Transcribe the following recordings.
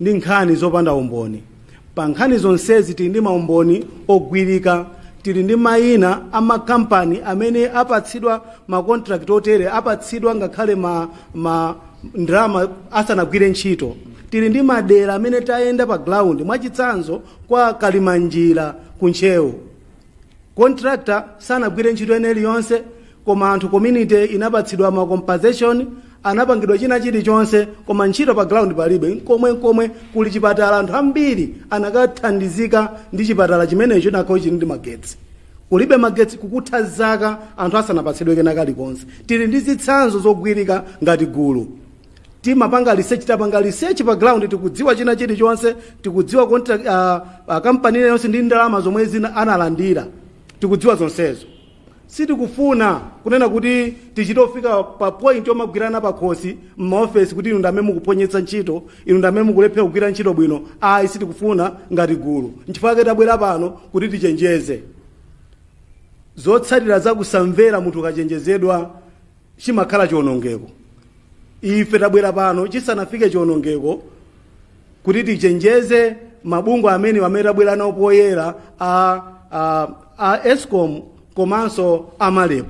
ndi nkhani zopanda umboni. Pa nkhani zonsezi tili ndi maumboni ogwirika. Tili ndi mayina a makampani amene apatsidwa makontirakiti otere, apatsidwa ngakhale ma, ma ndalama asanagwire ntchito. Tili ndi madera amene tayenda pa ground, mwachitsanzo kwa Kalimanjira ku Ntcheu. contractor sanagwire ntchito ina iliyonse koma anthu community inapatsidwa ma compensation anapangidwa china chilichonse koma ntchito pa ground palibe nkomwe nkomwe kuli chipatala anthu ambiri akanathandizika ndi chipatala chimenecho chikanakhala chili ndi magetsi kulibe magetsi kukutha zaka anthu asanapatsidwe kena kalikonse tili ndi zitsanzo zogwirika ngati gulu timapanga research tapanga research pa ground tikudziwa china chilichonse tikudziwa contract uh, uh, kampani iliyonse ndi ndalama zomwe zina analandira tikudziwa zonsezo sitikufuna kunena kuti tichite kufika pa point yomagwirana pa khosi m'maofesi kuti inu ndamene mukuphonyetsa ntchito inu ndamene mukulephera kugwira ntchito bwino ayi sitikufuna ngati gulu nchifukwa chake tabwera pano kuti tichenjeze zotsatira za kusamvera munthu ukachenjezedwa chimakhala chionongeko. Ife tabwera pano chisanafike chionongeko kuti tichenjeze mabungwe amene amene tabwera nawo poyera a, a, a escom komanso a MAREP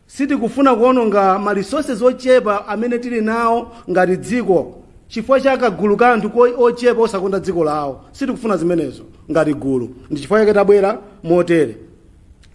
sitikufuna kuononga ma resources ochepa amene tili nawo ngati dziko chifukwa cha kagulu ka anthu ko- ochepa osakonda dziko lawo sitikufuna zimenezo ngati gulu ndi chifukwa chake tabwera motere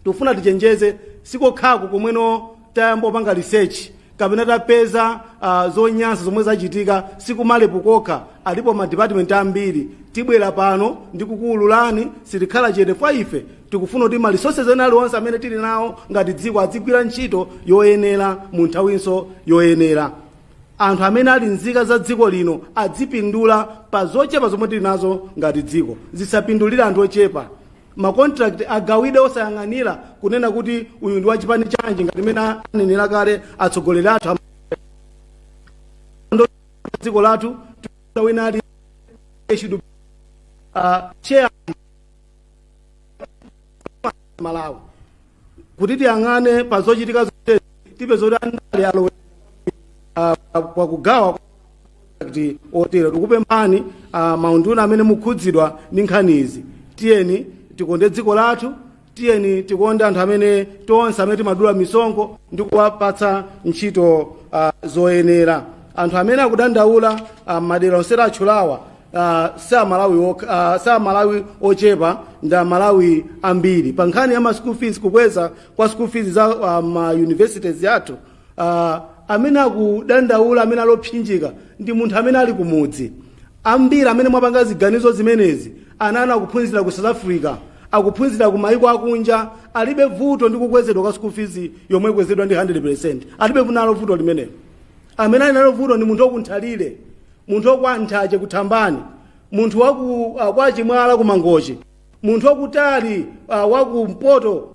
tikufuna tichenjeze sikokhako komweno tayamba kupanga research kapena tapeza uh, zonyansa zomwe zachitika si ku MAREP kokha alipo madipatimenti ambiri tibwera pano ndikukuwululani sitikhala chete kwa ife tikufuna kuti ma resources ena aliwonse amene tili nawo ngati dziko adzigwira ntchito yoyenera mu nthawinso yoyenera anthu amene ali nzika za dziko lino adzipindula pa zochepa zomwe tili nazo ngati dziko zisapindulire anthu ochepa ma contract agawide osayang'anira kunena kuti uyu ndi wachipani chanji ngati mene anenera kale atsogoleri athu am- ndo- dziko lathu tiuza wina ali they should uh, share malawi kuti tiyang'ane pa zochitika zotezi tipeza kuti andale alowe ah, ah, kwa kugawa kwa kuti otero tikupemphani ah, maunduna amene mukhudzidwa ndi nkhani izi tiyeni tikonde dziko lathu tiyeni tikonde anthu amene tonse amene timadula misonkho ndi kuwapatsa ntchito ah, zoyenera anthu amene akudandaula ah, m'madera onse atchulawa Uh, si amalawi ok- uh, si amalawi ochepa ndi amalawi ambiri pa nkhani ya ma school fees kukweza kwa school fees za uh, ma universities athu uh, amene akudandaula amene alopsinjika ndi munthu amene ali kumudzi ambiri amene mwapanga ziganizo zimenezi ana anu akuphunzira ku south africa akuphunzira ku maiko akunja alibe vuto ndi kukwezedwa kwa school fees yomwe ikwezedwa ndi 100% alibe nalo vuto limenelo amene ali nalo vuto ndi munthu waku Nthalire munthu wakwa nthache kuthambani munthu waku uh, kwa chimwala kumangochi munthu wakutali uh, wakumpoto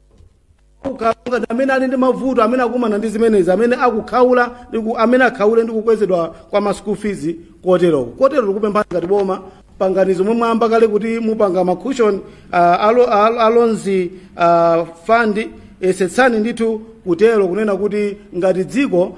ku Karonga ndi amene ali ndi mavuto amene akumana ndi zimenezi amene akukhaula ndi ku- amene akhaule ndi kukwezedwa kwa ma school fees koteroko kotero tikupemphani ngati boma pangani zomwe mwayamba kale kuti mupanga ma cushion uh, alo, alo, a loans uh, fund esetsani ndithu kutero kunena kuti ngati dziko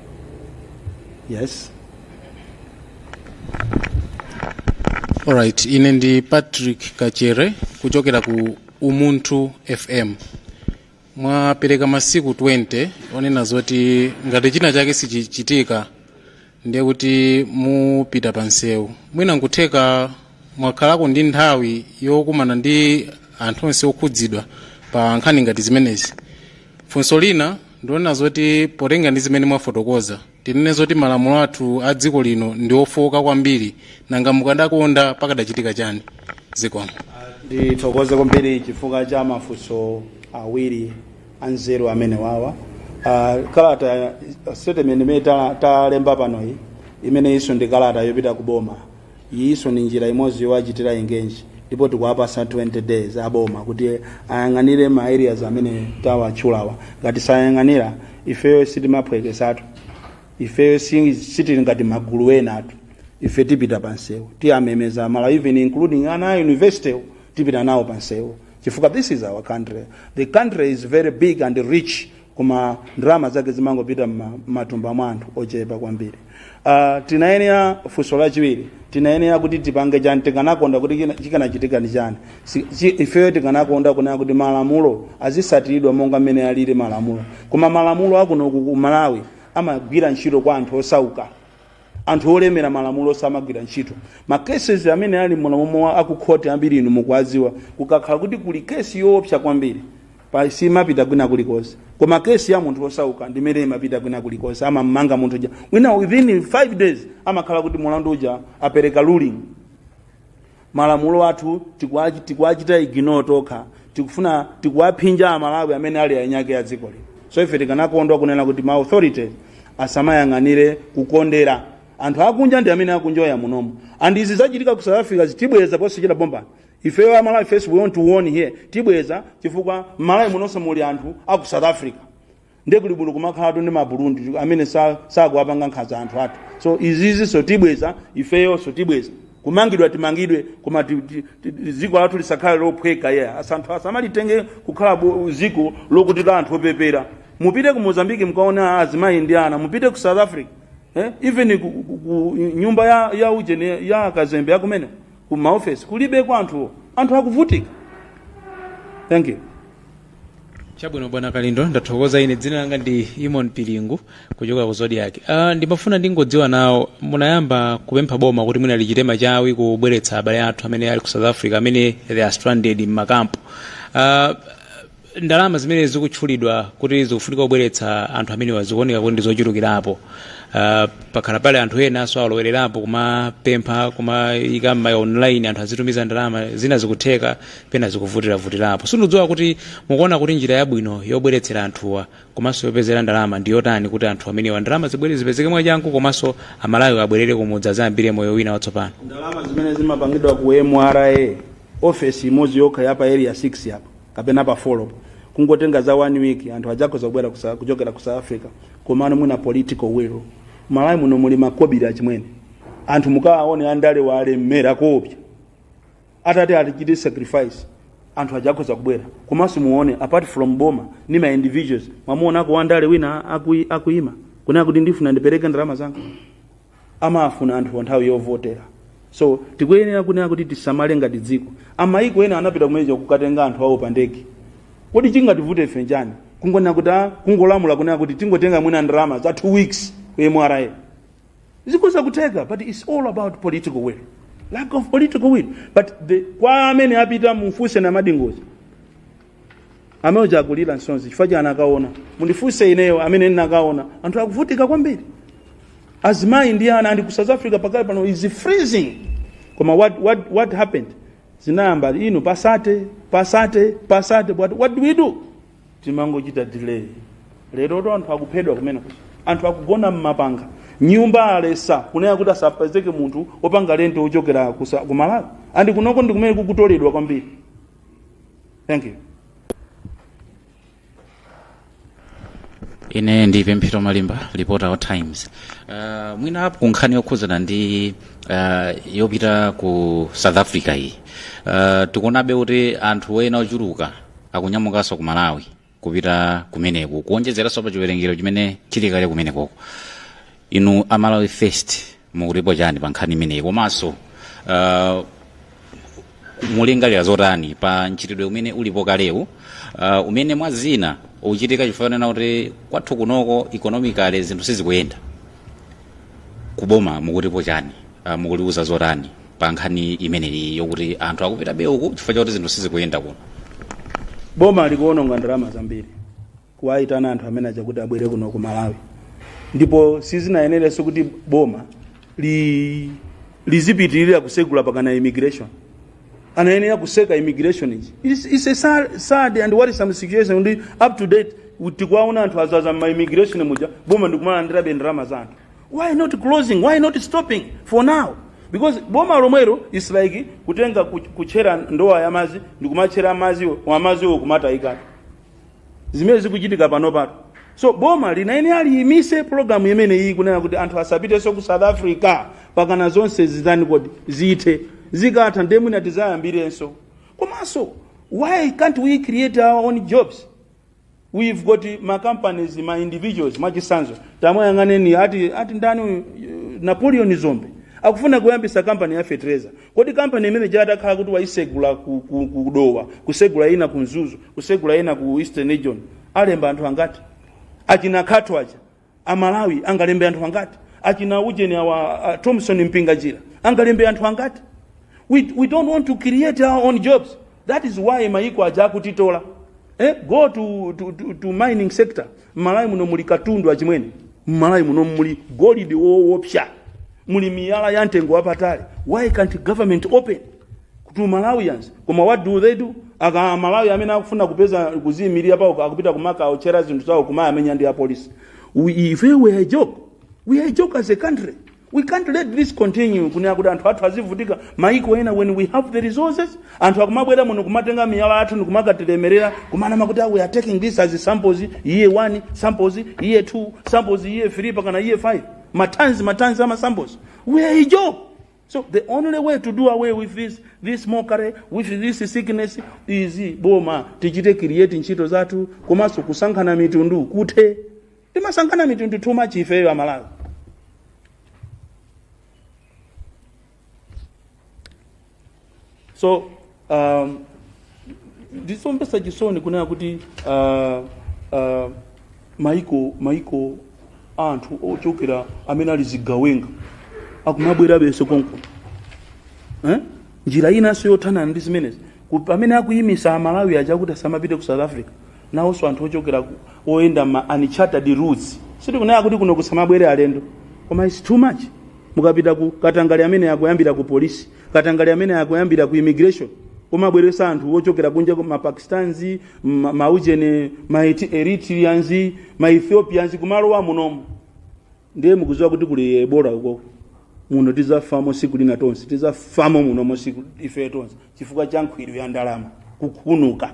yes alright ine ndi patrick kachere kuchokera ku umunthu fm mwapereka masiku 20 onena zoti ngati china chake sichichitika ndiye kuti mupita pa nsewu mwina nkutheka mwakhalako ndi nthawi yokumana ndi anthu onse okhudzidwa pa nkhani ngati zimenezi funso lina ndi lonena zoti potengera ndi zimene mwafotokoza tinene zoti malamulo athu a dziko lino ndi ofowoka kwambiri nanga mukadakonda pakadachitika chani zikomo ndithokoze kwambiri chifukwa cha mafunso awiri anzeru amenewawa uh, kalata statement imene ta- talemba panoyi imeneyinso ndi kalata yopita ku boma Iyinso ndi njira imodzi yowachitira engage ndipo tikuwapatsa 20 days a boma kuti ayang'anire ma areas amene tawatchulawa. Ngati sayang'anira, ifeyo sitimaphweketsatu. Ifeyo si, sitili ngati magulu enatu. Ife tipita pa msewu, tiwamemeza Amalawi even including ana a university wo, tipita nawo pa msewu chifukwa this is our country. The country is very big and rich koma ndalama zake zimangopita m'matumba mwa anthu ochepa kwambiri uh, tinayenera funso lachiwiri tinayenera kuti tipange chani tikanakonda kuti china- chikanachitika ndi chani Si- chi- ifeyo tikanakonda kunena kuti malamulo azisatiridwa monga mmene alili malamulo koma malamulo akunoku ku malawi amagwira ntchito kwa anthu osauka anthu olemera malamulo samagwira ntchito ma cases amene ali muno akukhoti ambiri inu mukuwadziwa kukakhala kuti kuli case yoopsa kwambiri pa simapita kwina kulikonse koma kesi ya munthu osauka ndimene imapita kwina kulikonse amamanga munthu uja wina within 5 days amakhala kuti mulandu uja apereka ruling malamulo athu tikuwachi- tikuwachita ignore tokha tikufuna tikuwaphinja amalawi amene ali eniake a dziko lino so ife tikanakondwa kunena kuti ma authorities asamayang'anire kukondera anthu akunja ndi amene akunjoya munomu and izi zachitika ku south africa zitibweza posichita bombani ifeyo amalawi first we want to warn here tibweza chifukwa mmalawi munonso muli anthu aku south africa ndiye kuli bwino kumakhalatu ndi maburundi amene sa- sakuwapanga nkhanza anthu athu so izizinso tibweza ifeyonso tibweza kumangidwa timangidwe koma ti- ti- ti- dziko lathu lisakhale lophweka a- anthu asamalitenge kukhala bo- dziko lokuti la anthu opepera mupite ku mozambiki mkaona azimayi ndi ana mupite ku south africa eh? even ku, ku, ku nyumba ya, ya ujeni ya kazembe akumene ku maofesi kulibeko anthuwo anthu akuvutika thank you chabwino bwana kalindo ndathokoza ine dzina langa ndi imon pilingu kuchokera ku zodiak uh, ndimafuna ndingodziwa nawo munayamba kupempha boma kuti mwina lichite machawi kubweretsa abale athu amene ali ku south africa amene they are stranded mmakampu uh, ndalama zimene zikutchulidwa kuti zikufunika kubweretsa anthu amenewa zikuoneka kuti ndi zochulukirapo uh, pakhala pali anthu enanso alowererapo kumapempha kumayika m'maya online anthu azitumiza ndalama zina zikutheka pena zikuvutiravutirapo sindidziwa kuti mukuona kuti njira yabwino yobweretsera anthuwa komanso yopezera ndalama ndi yotani kuti anthu amenewa ndalama zibwere zipezeke mwachangu komanso amalawi abwerere kumudzi adzayambire moyo wina watsopano ndalama zimene zimapangidwa ku mra ofesi imodzi yokha yapa area 6 apa kapena pa folo kungotenga za one week anthu adzakhoza kubwera kusa- kuchokera ku south africa komano mwina political will malawi muno muli makobiri achimwene anthu mukawaone andale walemera koopsa atati atichite sacrifice anthu adzakhoza kubwera komanso muone apart from boma ndi ma individuals mwamuonako wandale wina akui- akuima kunena kuti ndifuna ndipereke ndalama zanga amafuna anthuwo nthawi yovotera so tikuyenera kunena kuti tisamale ngati dziko amayiko ena anapita kumenekuja kukatenga anthu awo pa ndege kodi chingativute ife njani kungonena kuti ah, kungolamula kunena kuti tingotenga mwina ndalama za two weeks ku mra zikhoza kutheka but its all about political will lack of political will but the, kwa amene apita mumfunse namadingo amene uja akulira msozi chifukwa chani akaona mundifunse ineyo amene ndinakaona anthu akuvutika kwambiri azimayi ndi ana andi ku south africa pakali pano is freezing koma what, what, what happened zinayamba ino pasate pasate pasate what, what do we do timangochita delay lero to anthu akuphedwa kumene kuja anthu akugona mmapanga nyumba aletsa kunena kuti asapezeke munthu opanga lenti ochokera kusa- ku malawi andi kunoko ndi kumene akutoledwa kwambiri Thank you. ine ndi pemphero malimba reporter wa times uh, mwina apo kunkhani yokhudzana ndi uh, yopita ku south africa iyi uh, tikuonabe kuti anthu ena ochuluka akunyamukanso ku malawi kupita kumeneko kuonjezeranso pa chiwerengero chimene chili kale kumenekoko inu amalawi first mukutipo chani pa nkhani imeneyi komanso uh, mulingalira zotani pa mchitidwe umene ulipo kalewu uh, umene mwa zina ukuchitika chifukwa chonena kuti kwathu kunoko economically zinthu sizikuyenda kuboma mukutipo chani uh, mukuliuza zotani pa nkhani imeneyi yokuti anthu akupitabe uku chifukwa chakuti zinthu sizikuyenda kuno boma likuononga ndalama zambiri kuwayitana anthu amene aja kuti abwere kuno ku malawi ndipo sizinayenerenso kuti boma li, lizipitirira kusegula pakana immigration anayenera kutseka immigration iji It's- it's a sad, sad and worrisome situation ndi up to date tikuwaona anthu adzadza mma immigration muja boma ndikumalandirabe ndalama za anthu why not closing why not stopping for now because boma lomwelo is like kutenga ku- kutchera ndowa ya madzi ndikumatchera madziwo madziwo kumatayikatu zimene zikuchitika panopatu so boma linayenera liyimitse pologalamu imeneyi kunena kuti anthu asapitenso ku south africa pakana zonse zitani kodi zithe zikatha ndiye mwina tidzayambirenso komanso why can't we create our own jobs We've got ma companies, ma individuals, mwachitsanzo. Tamwayang'aneni ati ati ndani uyu, eh, Napoleon Dzombe. Akufuna kuyambisa company ya fertilizer. Kodi company imene ija atakhala kuti waisegula ku, ku, ku Dowa, kusegula ina ku Mzuzu, kusegula ina ku Eastern Region. Alemba anthu angati? Achina Gatoh aja. amalawi angalembe anthu angati achina ujeni awa uh, thomson mpinganjira angalembe anthu angati we, we don't want to create our own jobs that is why mayiko aja akutitola eh, go to, to, to, to mining sector mmalawi muno muli katundu achimwene mmalawi muno muli golidi woopsya muli miyala ya mtengo wapatali why can't government open to Malawians koma what do they do aMalawi amene akufuna kupeza kuziyimirira pawokha akupita kumakawaotchera zinthu zawo kumawamenya ndi apolisi We- if we were a joke we are a joke as a country we can't let this continue kunena kuti anthu athu azivutika maiko ena when we have the resources anthu akumabwera muno kumatenga miyala yathu ndikumakalemerera kumanama kuti "Ah, we are taking this as samples year 1 samples year 2 samples year 3 pakana year 5 matanzi matanzi ama samples we are a joke So the only way to do away with this, this mockery, with this sickness is boma tichite create ntchito zathu komanso kusankhana mitundu kuthe timasankhana mitundu too much ifeyo amalawi so um, ndisomvetsa chisoni kunena kuti uh, uh, maiko maiko a anthu ochokera amene ali zigawenga akumabwerabenso konko eh? njira inanso yothana ndi zimenezi Ku- pamene akuyimisa amalawi aja kuti asamapite ku south africa nawonso anthu ochokera ku- oyenda ma uncharted routes sitikunena kuti kuno kusamabwere alendo koma its too much mukapita ku Katangale amene akuyambira ku polisi katangale amene akuyambira ku immigration kumabweresa anthu ochokera kunja ku mapakistans ma- maujeni ma Eti- eritreans ma ethiopians kumalowa munomu ndiye mukuziwa kuti kuli ebola uko muno tizafamo siku lina tonse tizafamo munomo siku ife tonse chifukwa cha nkhwiru ya ndalama kukhunuka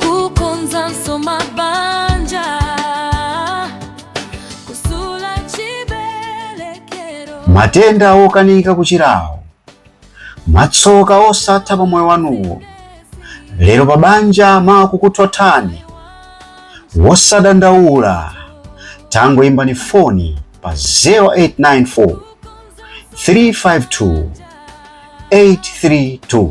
kukonzanso mabanja kumasula chibelekero matenda okanika kuchirawo matsoka osatha pa moyo wanuwo lero pa banja makukuthothani wosadandaula tangoimbani foni pa 0894 352 832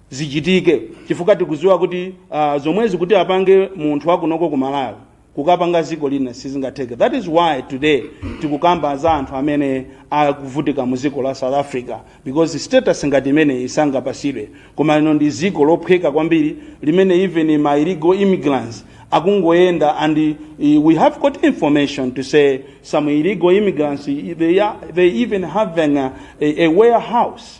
zichitike chifukwa tikuziwa kuti uh, zomwezi kuti apange munthu wakunoko ku malawi kukapanga ziko lina sizingatheke that is why today tikukamba za anthu amene akuvutika mu ziko la south africa because status ngati imeneyi sangapasidwe koma lino ndi ziko lophweka kwambiri limene even ma illegal immigrants akungoyenda and uh, we have got information to say some illegal immigrants they, are, they even having a, a, a warehouse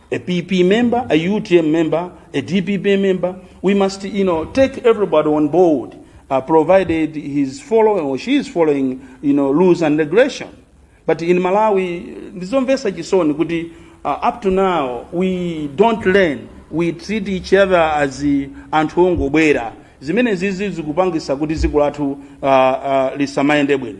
a PP member, a UTM member, a DPP member. We must, you know, take everybody on board, uh, provided he's following or she is following, you know, rules and regulation. But in Malawi, ndizomvesa chisoni kuti uh, up to now we don't learn. We treat each other as uh, anthu ongobwera. Zimene zizi zikupangisa kuti dziko lathu uh, uh, lisamayende bwino.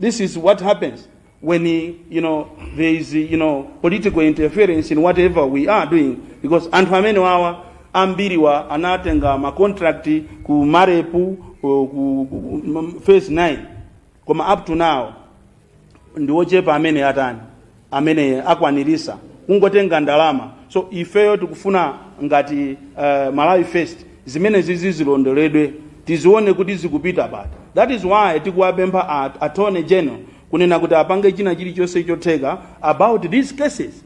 This is what happens when you know there is you know political interference in whatever we are doing because anthu amene wawa ambiriwa anatenga ma contract ku MAREP ku, ku, ku phase 9 koma up to now ndiwochepa amene atani amene akwanirisa kungotenga ndalama so ifeyo tikufuna ngati uh, malawi first zimenezi zizilondoledwe tizione kuti zikupita pati that is why tikuwapempha at- attorney general kunena kuti apange china chilichonse chotheka about these cases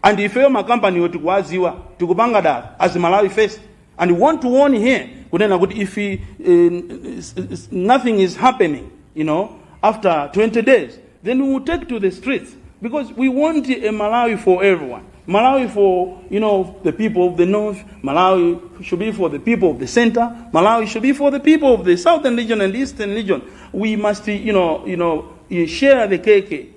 and ifeyo makampaniwo tikuwaziwa tikupanga dala as malawi first and we want to warn here kunena kuti if he, eh, s- s- nothing is happening you know after 20 days then we will take to the streets because we want a malawi for everyone malawi for you know the people of the north malawi should be for the people of the center malawi should be for the people of the southern region and eastern region we must you know you know eh, share the cake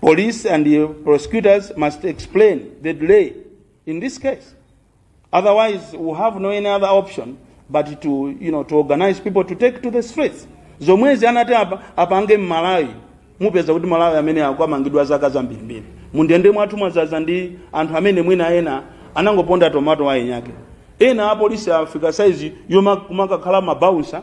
Police and the prosecutors must explain the delay in this case. Otherwise, we have no any other option but to, you know, to organize people to take to the streets. Zomwezi anati apa, apange m'Malawi mupeza kuti Malawi amene akanamangidwa zaka zambirimbiri. Mundende mwathu mwazaza ndi anthu amene mwina ena anangoponda tomato wa eniake. Ena apolisi afika saizi yomakakhala mabawunsa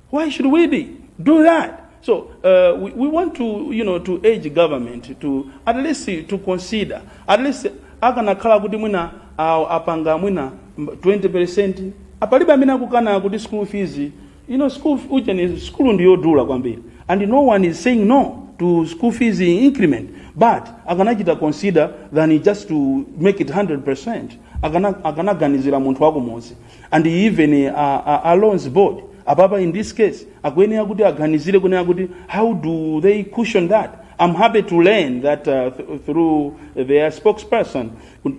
Why should we be do that? So uh, we, we want to, you know, to urge government to at least to consider at least akanakhala kuti mwina awo apanga mwina mb- 20% apalibe amene akukana kuti school fees you know school f- ujeni school ndi yodula kwambiri and no one is saying no to school fees increment but akanachita consider than just to make it 100% akana akanaganizira munthu wakumudzi and even uh, uh, uh, loans board apapa in this case akuyenera kuti aganizire kunena kuti how do they cushion that i'm happy to learn that uh, th- through their spokesperson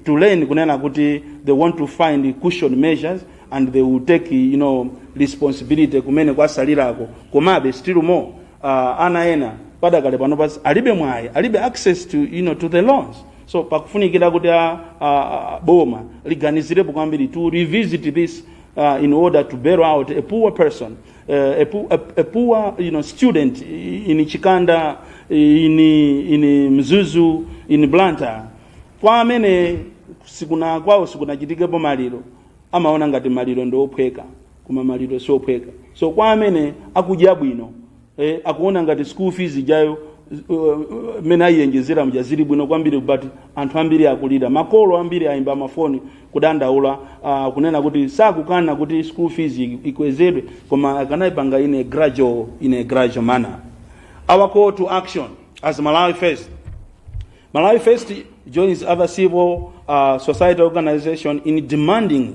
to learn kunena kuti they want to find cushion measures and they will take you know responsibility kumene kwasalirako komabe still more uh, ana ena padakale pano pasi alibe mwayi alibe access to you know to the loans so pakufunikira kuti a, a, a boma liganizirepo kwambiri to revisit this uh, in order to bail out a poor person uh, a, poor, a, a poor you know, student in chikanda in, in mzuzu in blantyre kwa amene sikuna kwawo sikunachitikepo maliro amaona ngati maliro ndi ophweka koma maliro si ophweka so kwa amene akudya bwino eh, akuona ngati school fees ijayo mmene ayiyenjezera mja zili bwino kwambiri but anthu ambiri akulira makolo ambiri ayimba mafoni kudandaula uh, kunena kuti sakukana kuti school fees i- ikwezedwe koma akanayipanga in a gradual in a gradual manner our call to action as malawi first malawi first joins other civil uh, society organization in demanding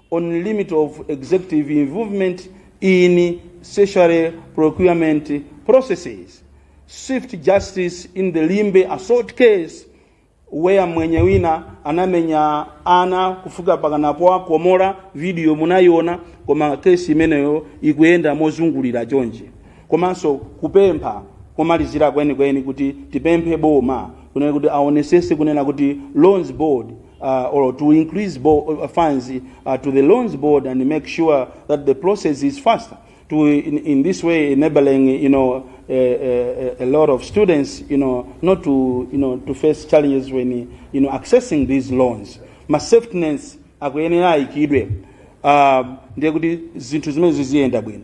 on limit of executive involvement in statutory procurement processes swift justice in the limbe assault case where mwenye wina anamenya ana kufika pakana powakomora video munayiona koma kesi imeneyo ikuyenda mozungulira chonje komanso kupempha komalizira kwenikweni kuti tipemphe boma kunena kuti aonesese kunena kuti loans board uh, or to increase uh, funds uh, to the loans board and make sure that the process is faster to in, in this way enabling you know a, a, a lot of students you know not to you know to face challenges when you know accessing these loans ma safety nets akuyenera ayikidwe uh, ndiye kuti zinthu zimenezo ziyenda bwino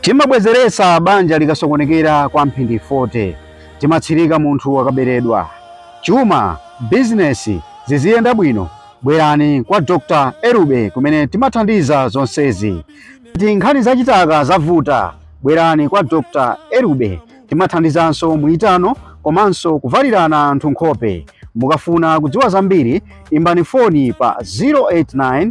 Timabwezeretsa banja likasokonekera kwa mphindi 40. Timatsirika munthu akaberedwa. Chuma, bizinesi, ziziyenda bwino? Bwerani kwa Dr. Erube kumene timathandiza zonsezi. Ngati nkhani za chitaka zavuta, bwerani kwa Dr. Erube. Timathandizanso muitano komanso kuvalirana anthu nkhope. Mukafuna kudziwa zambiri, imbani foni pa 089